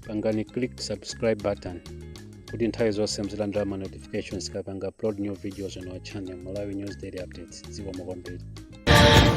pangani click subscribe button kuti nthawi zonse muzilandira ma notifications tikapanga upload new videos on our channel malawi news daily updates zikomo kwambiri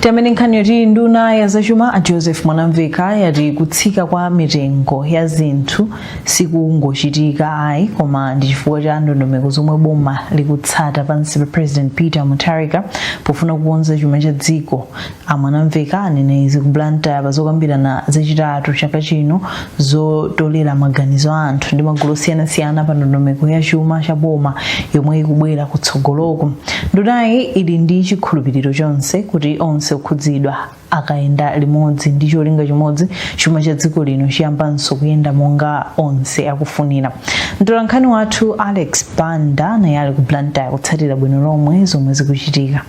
tiyambe ndi nkhani yoti nduna ya zachuma a joseph mwanamveka yati kutsika kwa mitengo ya zinthu sikungochitika ayi koma ndi chifukwa cha ndondomeko zomwe boma likutsata pansi pa president peter mutharika pofuna kukonza chuma cha dziko A Mwanamveka anena izi ku Blantyre pa zokambirana zachitatu chaka chino zotolera maganizo a anthu ndi magulu osiyanasiyana pa ndondomeko ya chuma cha boma yomwe ikubwera kutsogoloku. Ndunayi ili ndi chikhulupiriro chonse kuti onse okhudzidwa akayenda limodzi ndi cholinga chimodzi, chuma cha dziko lino chiyambanso kuyenda monga onse akufunira. Mtolankhani wathu Alex Banda naye ali ku Blantyre kutsatira bwino lomwe zomwe zikuchitika.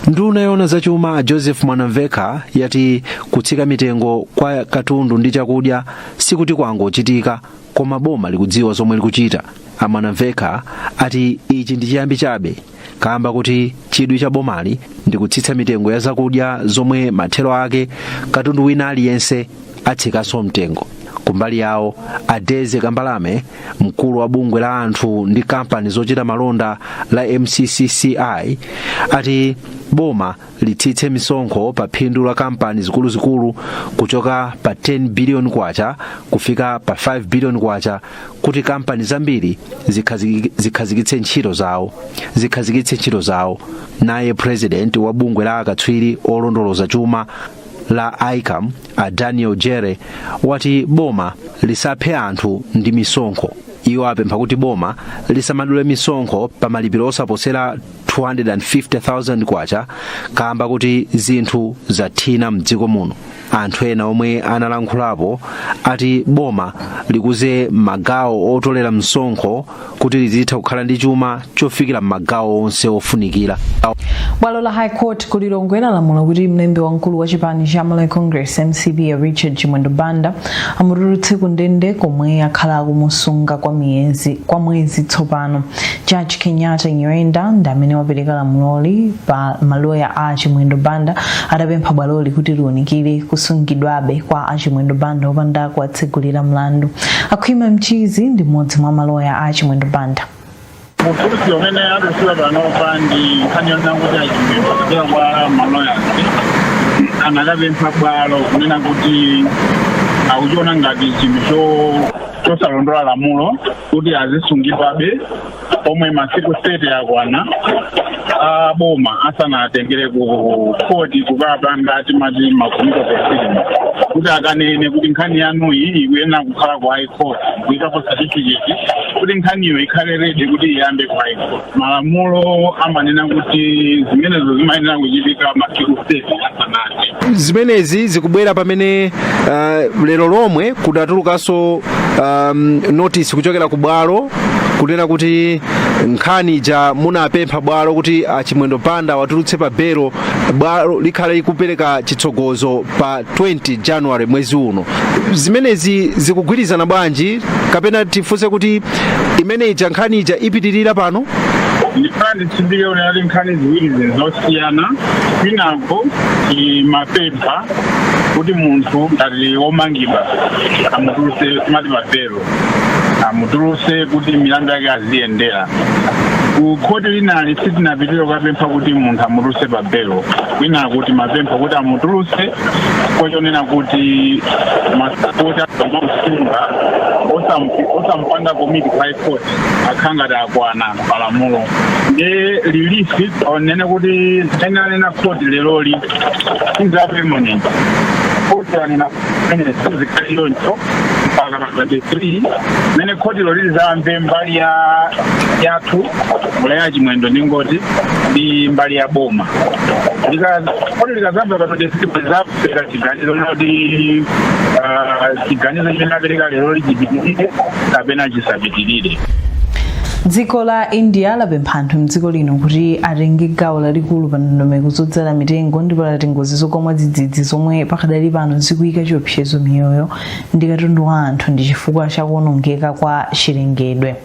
nduna yoona zachuma a joseph mwanamvekha yati kutsika mitengo kwa katundu ndi chakudya sikuti kwangochitika koma boma likudziwa zomwe likuchita a mwanamvekha ati ichi ndi chiyambi chabe kamba kuti chidwi cha bomali ndi kutsitsa mitengo ya zakudya zomwe mathero ake katundu wina aliyense atsikanso mtengo kumbali yawo a daisy kambalame mkulu wa bungwe la anthu ndi kampani zochita malonda la mccci ati boma litsitse misonkho pa phindu la kampani zikuluzikulu kuchoka pa 10 biliyoni kwacha kufika pa 5 biliyoni kwacha kuti kampani zambiri zikhazikitse ntchito zawo zikhazikitse ntchito zawo naye president wa bungwe la akatswiri olondoloza chuma la icam a daniel jere wati boma lisaphe anthu ndi misonkho iwo apempha kuti boma lisamadule misonkho pa malipiro osaposera 250,000 kwacha kamba kuti zinthu zathina mdziko muno anthu ena omwe analankhulapo ati boma likuze magawo otolera msonkho kuti lizitha kukhala ndi chuma chofikira m'magawo onse ofunikira bwalo la high court ku lilongwe lalamula kuti mlembi wamkulu wa chipani cha malawi congress mcp a richard chimwendo banda amutulutse ku ndende komwe akhala akumusunga kwa mwezi tsopano judge kenyatta nyirenda ndi amene wapereka lamuloli pa maloya a chimwendo banda adapempha bwaloli kuti liunikire kusungidwabe kwa achimwendo banda opanda kwa tsegulira mlandu akhwima mchizi ndi mmodzi mwa maloya a chimwendo banda Ufulu umene atulutsidwa panopa ndi nkhani yonena kuti achimwendo kudzera kwa maloya anakapempha bwalo kunena kuti akuchiona ngati chinthu cho- chosalondola lamulo kuti azisungidwabe pomwe masiku 30 akwana a boma asanatengere ku khoti kukapanga timati ma committal proceedings kuti akanene kuti nkhani yanuyi ikuyenera kukhala ku high court kuikapo certificate kuti nkhaniyo ikhale ready kuti iyambe ku high court malamulo amanena kuti zimenezo zimayenera kuchitika masiku 30 asanathe zimenezi zikubwera pamene uh, lero lomwe kudatulukanso um, notice kuchokera ku bwalo kunena kuti nkhani ija munapempha bwalo kuti a Chimwendo Banda watulutse pa belo, bwalo likhala likupereka chitsogozo pa 20 January mwezi uno. Zimenezi zikugwirizana bwanji kapena tifunse kuti imene ija nkhani ija ipitirira pano? ndipo nditsindike kuti pali nkhani ziwiri ziri zosiyana kwinako umapempha kuti munthu ngati womangidwa amutulutse timati pa belo amutuluse kuti milandu yake aziyendera ku khoti linali sitinapitire kukapempha kuti munthu amutuluse pa belo kwinaku timapempha kuti amutuluse chifukwa chonena kuti masiku oti amamsunga osampanga commit ku high court akhala ngati akwana palamulo ndiye release yonena kuti imene yanena khoti leroli sindiyo permanent khoti anena kuti zikhale choncho mpaka pa 23 pamene khotilo lizamve mbali ya yathu mbali ya a chimwendo ndingoti ndi mbali ya boma Lika- khoti likazamva pa 23 lizapereka chiganizo loti ah, chiganizo chimene apereka leroli chipitirire kapena chisapitirire dziko la india lapempha anthu mdziko lino kuti atenge gawo lalikulu pa ndondomeko zodzala mitengo ndipo lati ngozi zogwa mwadzidzidzi zomwe pakadali pano zikuyika chiopsezo miyoyo ndi katundu wa anthu ndi chifukwa cha kuonongeka kwa chilengedwe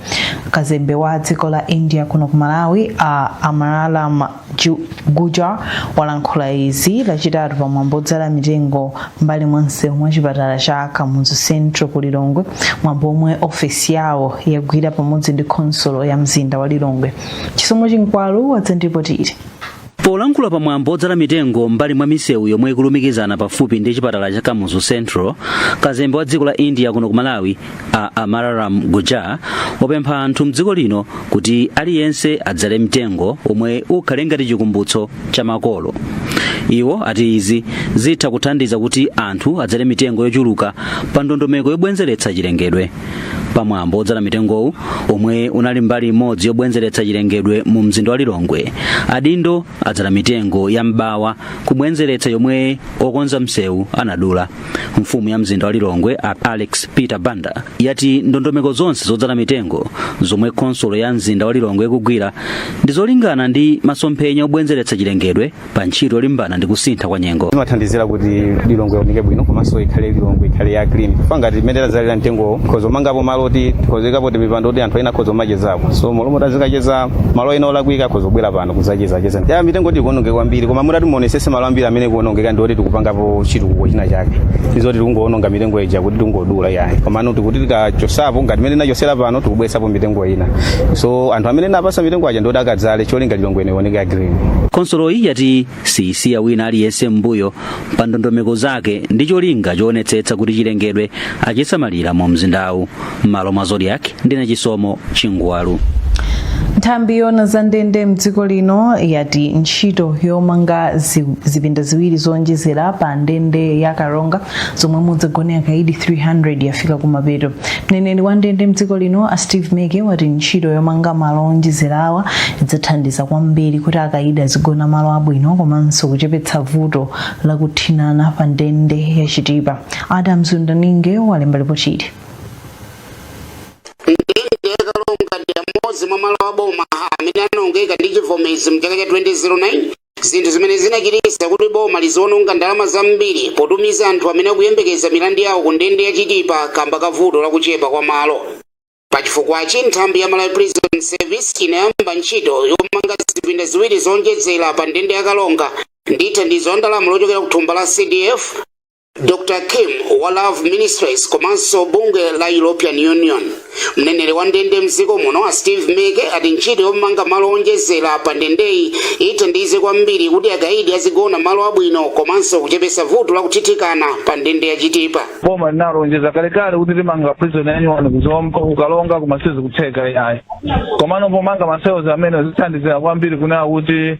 kazembe wa dziko la india kuno ku malawi a amararam Ju- gujar walankhula izi lachitatu pa mwambo odzala mitengo mbali mwa msewu wa chipatala cha kamuzu central ku lilongwe mwambo omwe ofesi yawo yagwira pamodzi ndi khonsolo ya mzinda wa lilongwe chisomo chinkwalu watiripotera Polankhula pa mwambo odzala mitengo m'mbali mwa misewu yomwe ikulumikizana pafupi ndi chipatala cha Kamuzu Central, kazembe wa dziko la India kuno ku Malawi a Amararam Gujar wapempha anthu mdziko lino kuti aliyense adzale mtengo omwe ukhale ngati chikumbutso cha makolo. Iwo ati izi zitha kuthandiza kuti anthu adzale mitengo yochuluka pa ndondomeko yobwenzeretsa chilengedwe. pamwambo odzala mitengowo omwe unali mbali imodzi yobwenzeretsa chilengedwe mu mzinda wa lilongwe adindo adzala mitengo ya m'bawa kubwenzeretsa yomwe okonza msewu anadula mfumu ya mzinda wa lilongwe a alex peter banda yati ndondomeko zonse zodzala mitengo zomwe khonsolo ya mzinda wa lilongwe ikugwira ndi zolingana ndi masomphenya obwenzeretsa chilengedwe pa ntchito yolimbana ndi kusintha kwa nyengo zimathandizira kuti lilongwe ioneke bwino komanso ikhale lilongwe ikhale ya green chifukwa ngati imene tazalira mtengowo tikhoza kumangapo malo oti tikhoza kuikapo timipando oti anthu ena akhoza kumachezapo so malomo tazikacheza malo ena olakwika akhoza kubwera pano kuzachezacheza ya mitengo ti ikuononge kwambiri koma mutati muonesese malo ambiri amene ikuonongeka ndi oti tikupangapo chitukuko china chake izoti tikungoononga mitengo ija kuti tikungodula yayi komano tikuti tikachosapo ngati imene tinachosera pano tikubweresapo mitengo ina so anthu amene napasa mitengo aja ndi oti akadzale cholinga lilongwe ioneke green khonsoloyi yati siyisiya wina aliyense m'mbuyo pa ndondomeko zake ndi cholinga choonetsetsa kuti chilengedwe achisamalira mu mzindawu m'malo mwa zodiak ndine chisomo chingwalu nthambi yona za ndende mdziko lino yati ntchito yomanga zipinda ziwiri zowonjezera pa ndende ya karonga zomwe mudzagone akaidi 300 yafika kumapeto mneneri wa ndende mdziko lino a steve meke wati ntchito yomanga malo owonjezerawa idzathandiza kwambiri kuti akaidi azigona malo abwino komanso kuchepetsa vuto la kuthinana pa ndende ya chitipa adams wundaninge walemba lipoti ili ndende ya karonga ndi imodzi mwa malo aboma amene anaonongeka ndi chivomezi mchaka cha 2009 zinthu zimene zinachititsa kuti boma liziononga ndalama zambiri potumiza anthu amene akuyembekeza milandu yawo ku ndende ya chitipa kamba ka vuto la kuchepa kwa malo pachifukwachi nthambi ya malawi prison service inayamba ntchito yomanga zipinda ziwiri zonjezera pa ndende ya karonga ndi thandizo la ndalama lochokera ku thumba la cdf Dr Kim wa Love Ministries komanso bungwe la European Union. Mneneri wa ndende mdziko muno a Steve Meke ati ntchito yomanga malo onjezera pa ndendeyi ithandize kwambiri kuti akaidi azigona malo abwino komanso kuchepetsa vuto la kuthithikana pa ndende ya Chitipa. boma linalonjeza kalekale kuti limanga prison yanyuwani ku Zomba ku Karonga koma sizikutheka ayi komano pomanga ma cells amenewa zithandizira kwambiri kunena kuti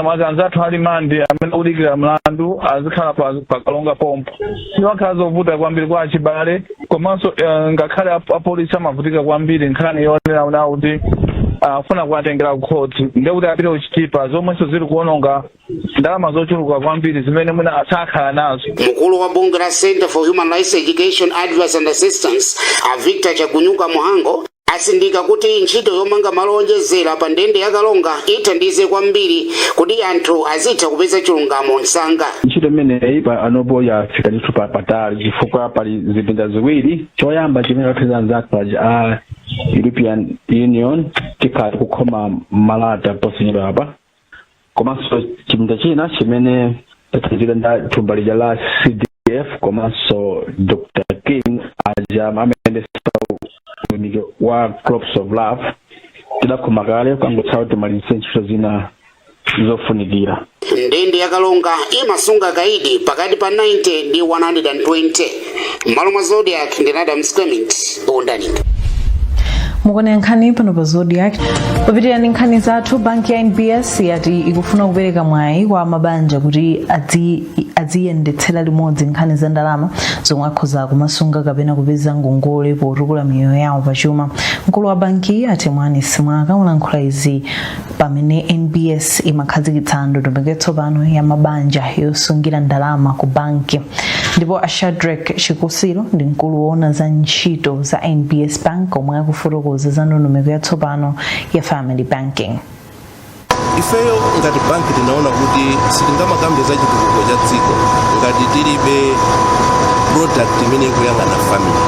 mwake anzathu a limandi amene akudikira mlandu azikhala pa pa karonga pompo zimakhala zovuta kwambiri kwa achibale komanso eh, ngakhale ap- apolisi amavutika kwambiri nkhani yonena kunena kuti akafuna kuwatengera kukhoti ndiye kuti apite ku chitipa zomwenso zili kuononga ndalama zochuluka kwambiri zimene mwina asakhala nazo mkulu wa bungwe la center for human rights education advice and assistance a victor chagunyuka mhango atsindika kuti ntchito yomanga malo oonjezera pa ndende ya Karonga ithandiza kwambiri kuti anthu azitha kupeza chilungamo msanga. ntchito imeneyi panopo yafika ndithu patali chifukwa pali zipinda ziwiri choyamba chimene athandiza anzathu aja a european union tikhala tikukhoma malata posachedwapa komanso chipinda china chimene tathandizika ndi thumba lija la cdf komanso dr king aja amayendesa utumiki wa crops of love tidakhoma kale kangotsala timalize ntchito zina zofunikira ndende ya Karonga imasunga akaidi pakati pa 90 ndi 120 mmalo mwa zodiak ndi radam squamint bondani mukuonera nkhani pano pa zodiak popitirira ndi nkhani zathu banki ya nbs yati ikufuna kupereka mwayi kwa mabanja kuti adzi- adziyendetsera limodzi nkhani za ndalama zomwe akhoza kumasunga kapena kupeza ngongole potukula miyoyo yawo pachuma mkulu wa bankiyi a temwani simwaka walankhula izi pamene nbs imakhazikitsa ndondomeko yatsopano ya mabanja yosungira ndalama ku banki ndipo a shadrack chikusiro ndi mkulu woona za ntchito za nbs bank omwe akufotokoza za ndondomeko yatsopano ya family banking ifeyo ngati banki tinaona kuti sitingamakambe za chitukuko cha dziko ngati tilibe product imene ikuyang'ana family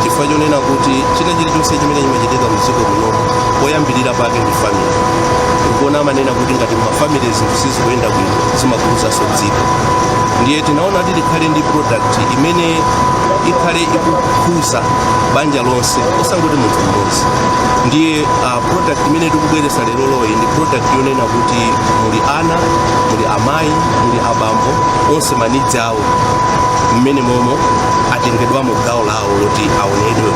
chifukwa chonena kuti china chilichonse chimene chimachitika mdziko muno poyambirira pake ndi family tikuona amanena kuti ngati mafamily zinthu sizikuyenda bwino zimakhuzanso dziko ndiye tinaona kuti tikhale ndi product imene ikhale ikukhuza banja lonse osangoti munthu mmodzi ndiye uh, product imene tikubweretsa lero loyi ndi product yonena kuti muli ana muli amayi muli abambo onse ma needs awo mmene momo atengedwamo gawo lawo kuti aonedwe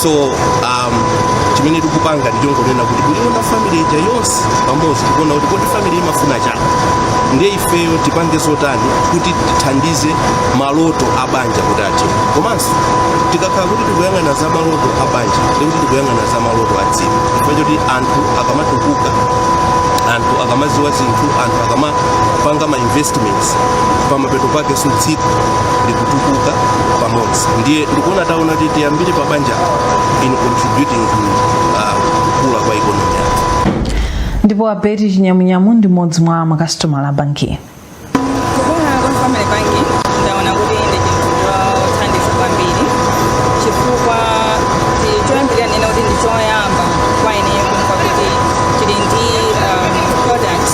so um, chimene tikupanga ndichongonena kuti kuliona family ija yonse pamodzi tikuona kuti kodi family imafuna chani ndiye ifeyo tipange zotani kuti tithandize maloto a banja kuti athe komanso tikakhala kuti tikuyang'ana za maloto a banja ndikuti tikuyang'ana za maloto a dziko chifukwa choti anthu akamatukuka anthu akamaziwa zinthu anthu akamapanga ma investments kutsitsa pamapeto pake so dziko likutukuka pamodzi ndiye ndikuona taona kuti tiyambire pa banja in contributing to uh, kukula kwa economy yathu ndipo a betty chinyamunyamu ndi mmodzi mwa makasitomala a bankiyi Kukula kwa family banking ndaona kuti ndi chinthu chothandiza kwambiri chifukwa ndi- choyambirira ndinene kuti ndi choyamba kwa ineyo kumva kuti chili ndi um, products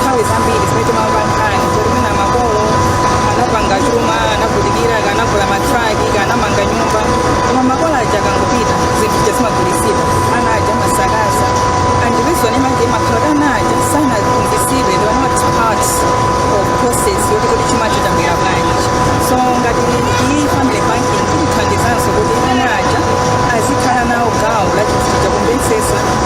nthawi zambiri zimene timamva nkhani zoti mwina makolo anapanga chuma anavutikira akanagula matraki akanamanga nyumba koma makolo aja akangopita zinthu ja zimagulitsidwa ana aja amasakaza and the reason imangokhala kuti ana aja sanaphunzitsidwe they were not part of process yoti kuti chuma chinabwera bwanji so ngati iyi family banking itithandizenso kuti ana aja azikhala nawo gawo la chinthu cha kumvetsetsa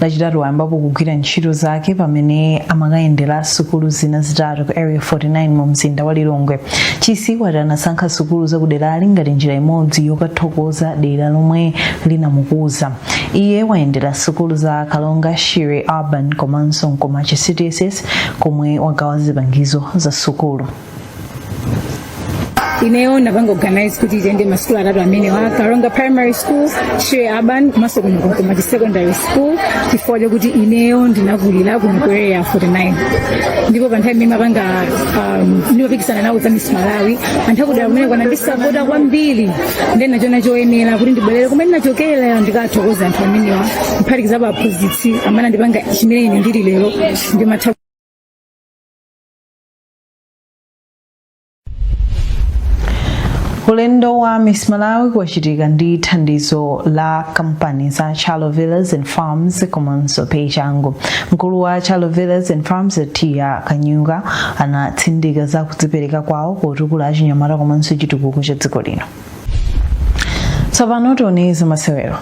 lachitatu wayambapo kugwira ntchito zake pamene amakayendera sukulu zina zitatu ku area 49 mu mzinda wa lilongwe chisi wati anasankha sukulu zakuderali ngati njira imodzi yokathokoza dera lomwe linamukuza iye wayendera sukulu za kalonga shire urban komanso nkomachi cdss komwe wagawa zipangizo za sukulu ineyo ndinapanga organize kuti tiyende masukulu atatu amenewa kalonga primary school shire urban komanso kuno ku nkomachi secondary school chifukwa chakuti ineyo ndinakulira kuno ku area 49 ndipo pa nthawi imene ndimapanga um, ndimapikisana nawo za miss malawi anthu akudera kumeneku anandisapota kwambiri ndiye ndinachiona choyenera kuti ndibwerere kumene ndinachokera ndikathokoze anthu amenewa kuphatikizapo aphunzitsi amene andipanga chimene ine ndili lero ndimatha ulendo wa miss malawi wachitika ndi thandizo la kampani za chalo villas and farms komanso pachangu mkulu wa chalo villas and farms a tiya kanyuka anatsindika za kudzipereka kwawo potukula achinyamata komanso chitukuko cha dziko lino tsopano tione za masewero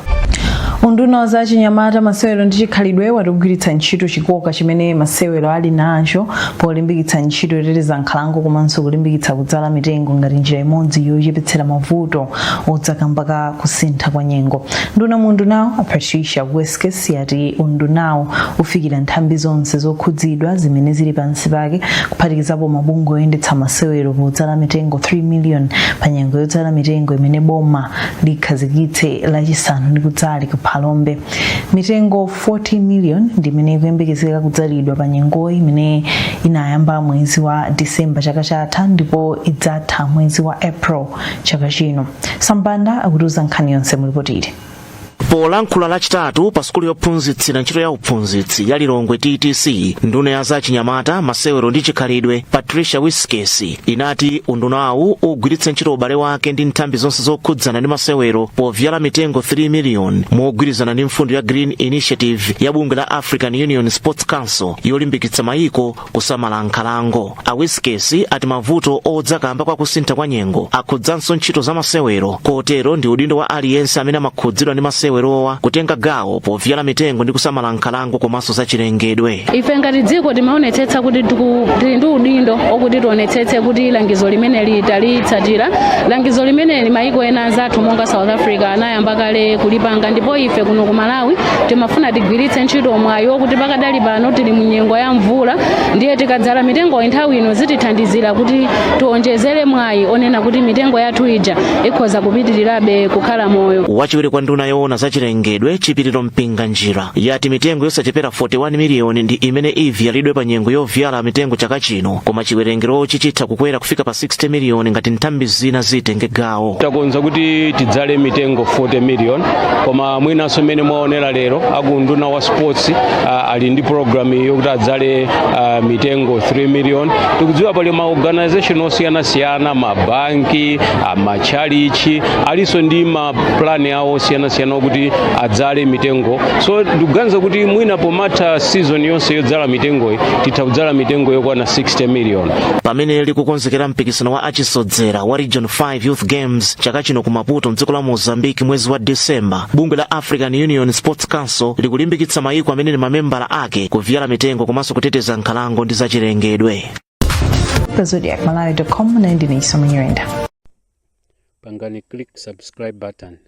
unduna wa za chinyamata masewero ndi chikhalidwe wati ugwiritsa ntchito chikoka chimene masewero ali nacho polimbikitsa ntchito yoteteza nkhalango komanso kulimbikitsa kudzala mitengo ngati njira imodzi yochepetsera mavuto odza kamba ka kusintha kwa nyengo nduna mu undunawu a patricia wiskes yati undunawu ufikira nthambi zonse zokhudzidwa zimene zili pansi pake kuphatikizapo mabungwe oyendetsa masewero podzala mitengo 3 million pa nyengo yodzala mitengo imene boma likhazikitse lachisanu likudzali ku phalombe mitengo 40 million ndi imene ikuyembekezeka kudzalidwa pa nyengo imene inayamba mwezi wa disemba chaka chatha ndipo idzatha mwezi wa april chaka chino sam banda akutiuza nkhani yonse mu lipotili polankhula lachitatu pa sukulu yophunzitsira ntchito ya uphunzitsi ya lilongwe ttc nduna ya za chinyamata masewero ndi chikhalidwe patricia wiskes inati undunawu ugwiritsa ntchito ubale wake ndi nthambi zonse zokhudzana ndi masewero pobzala mitengo 3 miliyoni mogwirizana ndi mfundo ya green initiative ya bungwe la african union sports council yolimbikitsa mayiko kusamala nkhalango a wiskesi ati mavuto odza kamba kwa kusintha kwa nyengo akhudzanso ntchito za masewero kotero ndi udindo wa aliyense amene amakhudzidwa ndi masewerowa kutenga gawo pobzala mitengo ndi kusamala nkhalango komanso zachilengedwe ife ngati dziko timaonetsetsa kuti tili ndi udindo okuti tionetsetse kuti langizo limene litalitsatira langizo limene mayiko ena anzathu monga south africa anayamba kale kulipanga ndipo ife kuno ku malawi timafuna tigwiritse ntchito mwayi okuti Pakadali pano tili mu nyengo ya mvula ndiye tikadzala mitengoyi nthawi ino zitithandizira kuti tionjezere mwayi onena kuti mitengo yathu ija ikhoza kupitirirabe kukhala moyo. wachiwiri kwa nduna yoona za chilengedwe chipiriro Mpinganjira yati mitengo yosachepera 41 miliyoni ndi imene ibzalidwe pa nyengo yobzala mitengo chaka chino koma chiwerengerochi chitha kukwera kufika pa 60 miliyoni ngati nthambi zina zitenge gawo takonza kuti tidzale mitengo 40 million koma mwinanso mmene mwaonera lero a ku unduna sports uh, ali ndi program yokuti adzale uh, mitengo 3 million tikudziwa pali ma organization osiyanasiyana mabanki uh, matchalitchi alinso ndi ma plan awo osiyanasiyana okuti adzale mitengo so ndikuganiza kuti mwina pomatha season yonse yodzala mitengoyi titha kudzala mitengo yokwana 60 million pamene likukonzekera mpikisano wa achisodzera wa region 5 Youth Games chaka chino ku Maputo mdziko la Mozambique mwezi wa December, bungwe la African Union Sports Council likulimbikitsa mayiko amene ndi mamembala ake kubzala mitengo komanso kuteteza nkhalango ndi zachilengedwe. zodiakmalawi.com ndine Denise Munyirenda. pangani click subscribe button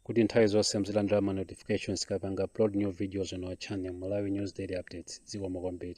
kuti nthawi zonse muzilandira ma notifications tikapanga upload new videos on our channel malawi news daily updates zikomo kwambiri